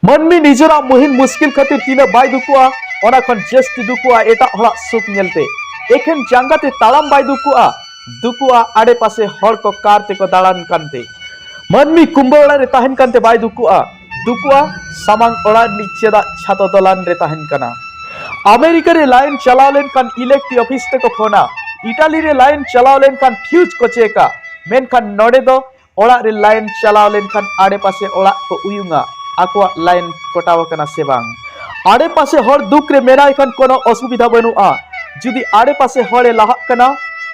ᱢᱟᱹᱱᱢᱤ ᱱᱤᱡᱮᱨᱟᱜ ᱢᱩᱦᱤᱢ ᱢᱩᱥᱠᱤᱞ ᱠᱷᱟᱹᱛᱤᱨ ᱛᱤᱱᱟᱹᱜ ᱵᱟᱭ ᱫᱩᱠᱩᱜᱼᱟ ᱚᱱᱟ ᱠᱷᱚᱱ ᱡᱟᱹᱥᱛᱤ ᱫᱩᱠᱩᱜᱼᱟ ᱮᱴᱟᱜ ᱦᱚᱲᱟᱜ ᱥᱩᱠ ᱧᱮᱞᱛᱮ ᱮᱠᱷᱮᱱ ᱡᱟᱸᱜᱟ ᱛᱮ ᱛᱟᱲᱟᱢ ᱵᱟᱭ ᱫᱩᱠᱩᱜᱼᱟ ᱫᱩᱠᱩᱜᱼᱟ ᱟᱲᱮ ᱯᱟᱥᱮ ᱦᱚᱲ ᱠᱚ ᱠᱟᱨ ᱛᱮᱠᱚ ᱫᱟᱬᱟᱱ ᱠᱟᱱᱛᱮ ᱢᱟᱹᱱᱢᱤ ᱠᱩᱢᱵᱟᱹ ᱚᱲᱟᱜ ᱨᱮ ᱛᱟᱦᱮᱱ ᱠᱟᱱᱛᱮ ᱵᱟᱭ ᱫᱩᱠᱩᱜᱼᱟ ᱫᱩᱠᱩᱜᱼᱟ ᱥᱟᱢᱟᱝ ᱚᱲᱟᱜ ᱨᱤᱱᱤᱡ ᱪᱮᱫᱟᱜ ᱪᱷᱟᱛᱚ ᱫᱚᱞᱟᱱ ᱨᱮ ᱛᱟᱦᱮᱱ ᱠᱟᱱᱟ ᱟᱢᱮᱨᱤᱠᱟ ᱨᱮ ᱞᱟᱭᱤᱱ ᱪᱟᱞᱟᱣ ᱞᱮᱱᱠᱷᱟᱱ ᱤᱞᱮᱠᱴᱨᱤ ᱚᱯᱷᱤᱥ ᱛᱮᱠᱚ ᱯᱷᱳᱱᱟ ᱤᱴᱟᱞᱤ ᱨᱮ ᱞᱟᱭᱤᱱ ᱪᱟᱞᱟᱣ ᱞᱮᱱᱠᱷᱟᱱ ᱯᱷᱤᱭᱩᱡᱽ ᱠᱚ ᱪᱮᱠᱟ ᱢᱮᱱᱠᱷᱟᱱ ᱱᱚᱰᱮ ᱫᱚ ᱚᱲᱟᱜ ᱨᱮ ᱞᱟᱭᱤᱱ ᱪᱟᱞᱟᱣ ᱞᱮᱱᱠᱷᱟᱱ ᱟᱲᱮᱯᱟᱥᱮ ᱚᱲᱟᱜ ᱠᱚ ᱩᱭᱩᱝᱟ ᱟᱠᱚᱣᱟᱜ ᱞᱟᱭᱤᱱ ᱠᱚᱴᱟᱣ ᱟᱠᱟᱱᱟ ᱥᱮ ᱵᱟᱝ ᱟᱲᱮᱯᱟᱥᱮ ᱦᱚᱲ ᱫᱩᱠ ᱨᱮ ᱢᱮᱱᱟᱭ ᱠᱷᱟᱱ ᱠᱳᱱᱳ ᱚᱥᱩᱵᱤᱫᱷᱟ ᱵᱟᱹᱱᱩᱜᱼᱟ ᱡᱩᱫᱤ ᱟᱲᱮᱯᱟᱥᱮ ᱦᱚᱲᱮ ᱞᱟᱦᱟᱜ ᱠᱟᱱᱟ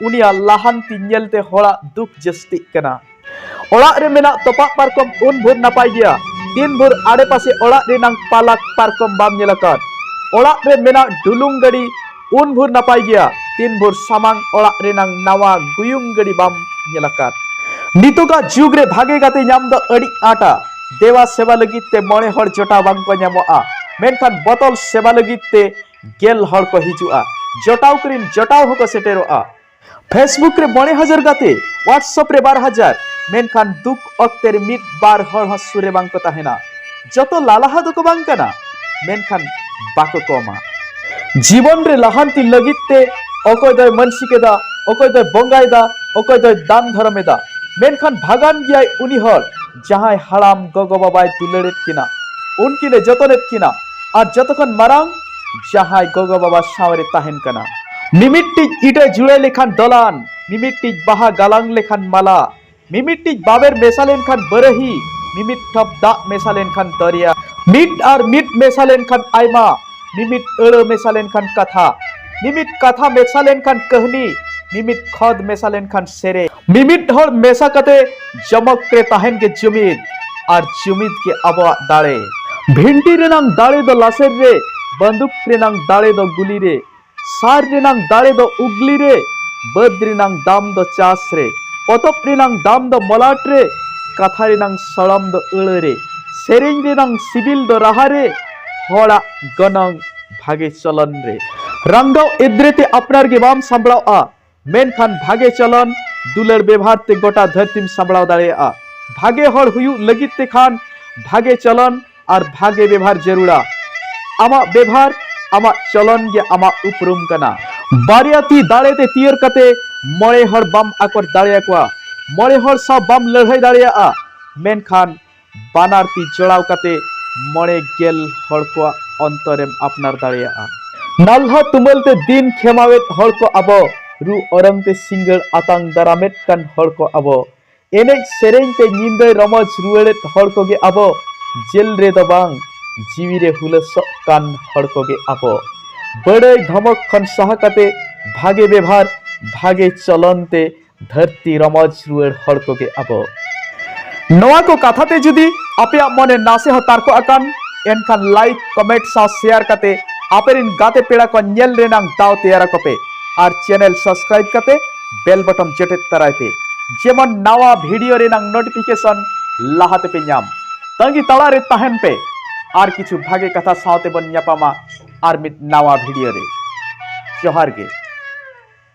ᱩᱱᱤᱭᱟᱜ ᱞᱟᱦᱟᱱᱛᱤ ᱧᱮᱞᱛᱮ ᱦᱚᱲᱟᱜ ᱫᱩᱠ ᱡᱟᱹᱥᱛᱤᱜ ᱠᱟᱱᱟ ᱚᱲᱟᱜ ᱨᱮ ᱢᱮᱱᱟᱜ ᱛᱚᱯᱟᱜ ᱯᱟᱨᱠᱚᱢ ᱩᱱ ᱵᱷᱳᱨ ᱱᱟᱯᱟᱭ ᱜᱮᱭᱟ ᱛᱤᱱ ᱵᱷᱳᱨ ᱟᱲᱮᱯᱟᱥᱮ ᱚᱲᱟᱜ ᱨᱮᱱᱟᱝ ᱯᱟᱞᱟᱠ ᱯᱟᱨᱠᱚᱢ ᱵᱟᱢ ᱧᱮᱞ ᱟᱠᱟᱫ ᱚᱲᱟᱜ ᱨᱮ ᱢᱮᱱᱟᱜ ᱰᱩᱞᱩᱝ ᱜᱟᱹᱰᱤ ᱩᱱ ᱵᱷᱳᱨ ᱱᱟᱯᱟᱭ ᱜᱮᱭᱟ ᱛᱤᱱ ᱵᱷᱳᱨ ᱥᱟᱢᱟᱝ ᱚᱲᱟᱜ ᱨᱮᱱᱟᱝ ᱱᱟᱣᱟ ᱜᱩᱭᱩᱝ ᱜᱟᱹᱰᱤ ᱵᱟᱢ ᱧᱮᱞ ᱟᱠᱟᱫ ᱱᱤᱛᱚᱜᱟ ᱡᱩᱜᱽ ᱨᱮ ᱵᱷᱟᱜᱮ ᱜᱟᱛᱮ ᱧᱟᱢ ᱫᱚ ᱟᱹᱰᱤ ᱟᱸᱴᱟ ᱫᱮᱣᱟ ᱥᱮᱵᱟ ᱞᱟᱹᱜᱤᱫ ᱛᱮ ᱢᱚᱬᱮ ᱦᱚᱲ ᱡᱚᱴᱟ ᱵᱟᱝ ᱠᱚ ᱧᱟᱢᱚᱜᱼᱟ ᱢᱮᱱᱠᱷᱟᱱ ᱵᱚᱛᱚᱞ ᱥᱮᱵᱟ ᱞᱟᱹᱜᱤᱫ ᱛᱮ ᱜᱮᱞ ᱦᱚᱲ ᱠᱚ ᱦᱤᱡᱩᱜᱼᱟ ᱡᱚᱴᱟᱣ ᱠᱚᱨᱤᱱ ᱡᱚᱴᱟᱣ ᱦᱚᱸᱠᱚ ᱥᱮᱴᱮᱨᱚᱜᱼᱟ ᱯᱷᱮᱥᱵᱩᱠ ᱨᱮ ᱢᱚᱬᱮ ᱦᱟᱡᱟᱨ ᱜᱟᱛᱮ ᱣᱟᱴᱥᱚᱯ ᱨᱮ ᱵᱟᱨ ᱦᱟᱡᱟᱨ ᱢᱮᱱᱠᱷᱟᱱ ᱫᱩᱠ ᱚᱠᱛᱮ ᱨᱮ ᱢᱤᱫ ᱵᱟᱨ ᱦᱚᱲ ᱦᱚᱸ ᱥᱩᱨ ᱨᱮ ᱵᱟᱝ ᱠᱚ ᱛᱟᱦᱮᱱᱟ ᱡᱚᱛᱚ ᱞᱟᱞᱟᱦᱟ ᱫᱚᱠᱚ ᱵᱟᱝ ᱠᱟᱱᱟ ᱢᱮᱱᱠᱷᱟᱱ ᱵᱟᱠᱚ ᱠᱚᱢᱟ ᱡᱤᱵᱚᱱ ᱨᱮ ᱞᱟᱦᱟᱱᱛᱤ ᱞᱟᱹᱜᱤᱫ ᱛᱮ ᱚᱠᱚᱭ ᱫᱚᱭ ᱢᱟᱹᱱᱥᱤᱠ ᱮᱫᱟ ᱚᱠᱚᱭ ᱫᱚᱭ ᱵᱚᱸᱜᱟᱭᱮᱫᱟ ᱚᱠᱚᱭ ᱫᱚᱭ ᱫᱟᱱ ᱫᱷᱚᱨᱚᱢ ᱮᱫᱟ ᱢᱮᱱᱠᱷᱟᱱ ᱵᱷᱟᱜᱟᱱ ᱜᱮᱭᱟᱭ ᱩᱱᱤ ᱦᱚᱲ ᱡᱟᱦᱟᱸᱭ ᱦᱟᱲᱟᱢ ᱜᱚᱜᱚ ᱵᱟᱵᱟᱭ ᱫᱩᱞᱟᱹᱲᱮᱫ ᱠᱤᱱᱟ ᱩᱱᱠᱤᱱ ᱮ ᱡᱚᱛᱚᱱᱮᱫ ᱠᱤᱱᱟ ᱟᱨ ᱡᱚᱛᱚ ᱠᱷᱚᱱ ᱢᱟᱨᱟᱝ ᱡᱟᱦᱟᱸᱭ ᱜᱚᱜᱚ ᱵᱟᱵᱟ ᱥᱟᱶᱨᱮ ᱛᱟᱦᱮᱱ ᱠᱟᱱᱟ ᱢᱤᱢᱤᱫᱴᱤᱡ ᱤᱴᱟᱹ ᱡᱩᱲᱟᱹ ᱞᱮᱠᱷᱟᱱ ᱫᱚᱞᱟᱱ ᱢᱤᱢᱤᱫᱴᱤᱡ ᱵᱟᱦᱟ ᱜᱟᱞᱟᱝ ᱞᱮᱠᱷᱟᱱ ᱢᱟᱞᱟ ᱢᱤᱢᱤᱫᱴᱤᱡ ᱵᱟᱵᱮᱨ ᱢᱮᱥᱟ ᱞᱮᱱᱠᱷᱟᱱ ᱵᱟᱹᱨᱟᱹᱦᱤ ᱢᱤᱢᱤᱫ ᱴᱷᱚᱯ ᱫᱟᱜ ᱢᱮᱥᱟ ᱞᱮᱱᱠᱷᱟᱱ ᱫᱚᱨᱭᱟ ᱢᱤᱫ ᱟᱨ ᱢᱤᱫ ᱢᱮᱥᱟ ᱞᱮᱱᱠᱷᱟᱱ ᱟᱭᱢᱟ ᱢᱤᱢᱤᱫ ᱟᱹᱲᱟᱹ ᱢᱮᱥᱟ ᱞᱮᱱᱠᱷᱟᱱ ᱠᱟᱛᱷᱟ ᱢᱤᱢᱤᱫ ᱠᱟᱛᱷᱟ ᱢᱮᱥᱟ ᱞᱮᱱᱠᱷᱟᱱ ᱠᱟᱹᱦᱱᱤ ᱢᱤᱢᱤᱫ ᱠᱷᱚᱫ ᱢᱮᱥᱟ ᱞᱮᱱᱠᱷᱟᱱ ᱥᱮᱨᱮᱧ ᱢᱤᱢᱤᱫ ᱦᱚᱲ ᱢᱮᱥᱟ ᱠᱟᱛᱮ ᱡᱚᱢᱚᱠ ᱨᱮ ᱛᱟᱦᱮᱱ ᱜᱮ ᱡᱩᱢᱤᱫ ᱟᱨ ᱡᱩᱢᱤᱫ ᱜᱮ ᱟᱵᱚᱣᱟᱜ ᱫᱟᱲᱮ ᱵᱷᱤᱱᱴᱤ ᱨᱮᱱᱟᱝ ᱫᱟᱲᱮ ᱫᱚ ᱞᱟᱥᱮᱨ ᱨᱮ ᱵᱟᱹᱱᱫᱩᱠ ᱨᱮᱱᱟᱝ ᱫᱟᱲᱮ ᱫᱚ ᱜᱩᱞᱤ ᱨᱮ ᱥᱟᱨ ᱨᱮᱱᱟᱝ ᱫᱟᱲᱮ ᱫᱚ ᱩᱜᱽᱞᱤ ᱨᱮ ᱵᱟᱹᱫᱽ ᱨᱮᱱᱟᱝ ᱫᱟᱢ ᱫᱚ ᱪᱟᱥ ᱨᱮ ᱯᱚᱛᱚᱵ ᱨᱮᱱᱟᱝ ᱫᱟᱢ ᱫᱚ ᱢᱚᱞᱟᱴ ᱨᱮ ᱠᱟᱛᱷᱟ ᱨᱮᱱᱟᱝ ᱥᱚᱲᱚᱢ ᱫᱚ ᱟᱹᱲᱟᱹ ᱨᱮ ᱥᱮᱨᱮᱧ ᱨᱮᱱᱟᱝ ᱥᱤᱵᱤᱞ ᱫᱚ ᱨᱟᱦᱟ ᱨᱮ ᱦᱚᱲᱟᱜ ᱜᱚᱱᱚᱝ ᱵᱷᱟᱜᱮ ᱪᱚᱞᱚᱱ ᱨᱮ ᱨᱟᱝᱜᱟᱣ ᱮᱫᱽᱨᱮ ᱛᱮ ᱟᱯᱱᱟᱨ ᱜᱮ ᱵᱟᱢ ᱥᱟᱢᱵᱽᱲᱟᱣᱼᱟ ᱢᱮᱱᱠᱷᱟᱱ ᱵᱷᱟᱜᱮ ᱪᱚᱞᱚᱱ ᱫᱩᱞᱟᱹᱲ ᱵᱮᱵᱷᱟᱨ ᱛᱮ ᱜᱚᱴᱟ ᱫᱷᱟᱹᱨᱛᱤᱢ ᱥᱟᱢᱵᱲᱟᱣ ᱫᱟᱲᱮᱭᱟᱜᱼᱟ ᱵᱷᱟᱜᱮ ᱦᱚᱲ ᱦᱩᱭᱩᱜ ᱞᱟᱹᱜᱤᱫ ᱛᱮ ᱠᱷᱟᱱ ᱵᱷᱟᱜᱮ ᱪᱚᱞᱚᱱ ᱟᱨ ᱵᱷᱟᱜᱮ ᱵᱮᱵᱷᱟᱨ ᱡᱟᱹᱨᱩᱲᱟ ᱟᱢᱟᱜ ᱵᱮᱵᱷᱟᱨ ᱟᱢᱟᱜ ᱪᱚᱞᱚᱱ ᱜᱮ ᱟᱢᱟᱜ ᱩᱯᱨᱩᱢ ᱠᱟᱱᱟ ᱵᱟᱨᱭᱟ ᱛᱤ ᱫᱟᱲᱮ ᱛᱮ ᱛᱤᱭᱟᱹᱨ ᱠᱟᱛᱮ ᱢᱚᱬᱮ ᱦᱚᱲ ᱵᱟᱢ ᱟᱠᱚᱴ ᱫᱟᱲᱮᱭᱟᱠᱚᱣᱟ ᱢᱚᱬᱮ ᱦᱚᱲ ᱥᱟᱶ ᱵᱟᱢ ᱞᱟᱹᱲᱦᱟᱹᱭ ᱫᱟᱲᱮᱭᱟᱜᱼᱟ ᱢᱮᱱᱠᱷᱟᱱ ᱵᱟᱱᱟᱨ ᱛᱤ ᱡᱚᱲᱟᱣ ᱠᱟᱛᱮ ᱢᱚᱬᱮ ᱜᱮᱞ ᱦᱚᱲ ᱠᱚᱣᱟᱜ ᱚᱱᱛᱚᱨᱮᱢ ᱟᱯᱱᱟᱨ ᱫᱟᱲᱮᱭᱟᱜᱼᱟ ᱱᱟᱞᱦᱟ ᱛᱩᱢᱟᱹᱞ ᱛᱮ ᱫᱤᱱ ᱠᱷᱮᱢᱟᱣᱮᱫ ᱦᱚᱲ ᱠᱚ ᱟᱵᱚ ᱨᱩ ᱚᱨᱚᱝ ᱛᱮ ᱥᱤᱸᱜᱟᱹᱲ ᱟᱛᱟᱝ ᱫᱟᱨᱟᱢᱮᱫ ᱠᱟᱱ ᱦᱚᱲ ᱠᱚ ᱟᱵᱚ ᱮᱱᱮᱡ ᱥᱮᱨᱮᱧ ᱛᱮ ᱧᱤᱫᱟᱹ ᱨᱚᱢᱚᱡᱽ ᱨᱩᱣᱟᱹᱲᱮᱫ ᱦᱚᱲ ᱠᱚᱜᱮ ᱟᱵᱚ ᱡᱮᱞ ᱨᱮ ᱫᱚ ᱵᱟᱝ ᱡᱤᱣᱤ ᱨᱮ ᱦᱩᱞᱟᱹᱥᱚᱜ ᱠᱟᱱ ᱦᱚᱲ ᱠᱚᱜᱮ ᱟᱵᱚ ᱵᱟᱹᱲᱟᱹᱭ ᱫᱷᱚᱢᱚᱠ ᱠᱷᱚᱱ ᱥᱟᱦᱟ ᱠᱟᱛᱮ ᱵᱷᱟᱜᱮ ᱵᱮᱵᱷᱟᱨ ᱵᱷᱟᱜᱮ ᱪᱚᱞᱚᱱ ᱛᱮ ᱫᱷᱟᱹᱨᱛᱤ ᱨᱚᱢᱚᱡᱽ ᱨᱩᱣᱟᱹᱲ ᱦᱚᱲ ᱠᱚᱜᱮ ᱟᱵᱚ ᱱᱚᱣᱟ ᱠᱚ ᱠᱟᱛᱷᱟ ᱛᱮ ᱡᱩᱫᱤ ᱟᱯᱮᱭᱟᱜ ᱢᱚᱱᱮ ᱱᱟᱥᱮ ᱦᱚᱸ ᱛᱟᱨᱠᱚᱜ ᱟᱠᱟᱱ ᱮᱱᱠᱷᱟᱱ ᱞᱟᱭᱤᱠ ᱠᱚᱢᱮᱱᱴ ᱥᱟᱶ ᱥᱮᱭᱟᱨ ᱠᱟᱛᱮ ᱟᱯᱮᱨᱤᱱ ᱜᱟᱛᱮ ᱯᱮᱲᱟ ᱠᱚ ᱧᱮᱞ ᱨᱮᱱᱟᱜ ᱫᱟᱣ ᱛᱮᱭᱟᱨ ᱟᱠᱚ ᱯᱮ ᱟᱨ ᱪᱮᱱᱮᱞ ᱥᱟᱵᱥᱠᱨᱟᱭᱤᱵ ᱠᱟᱛᱮ ᱵᱮᱞ ᱵᱚᱴᱚᱢ ᱡᱚᱴᱮᱫ ᱛᱟᱨᱟᱭ ᱯᱮ ᱡᱮᱢᱚᱱ ᱱᱟᱣᱟ ᱵᱷᱤᱰᱤᱭᱳ ᱨᱮᱱᱟᱜ ᱱᱳᱴᱤᱯᱷᱤᱠᱮᱥᱚᱱ ᱞᱟᱦᱟ ᱛᱮᱯᱮ ᱧᱟᱢ ᱛᱟᱺᱜᱤ ᱛᱟᱲᱟ ᱨᱮ ᱛᱟᱦᱮᱱ ᱯᱮ ᱟᱨ ᱠᱤᱪᱷᱩ ᱵᱷᱟᱜᱮ ᱠᱟᱛᱷᱟ ᱥᱟᱶᱛᱮ ᱵᱚᱱ ᱧᱟᱯᱟᱢᱟ ᱟᱨ ᱢᱤᱫ ᱱᱟᱣᱟ ᱵᱷᱤᱰᱤᱭᱳ ᱨᱮ ᱡᱚᱦᱟᱨ ᱜᱮ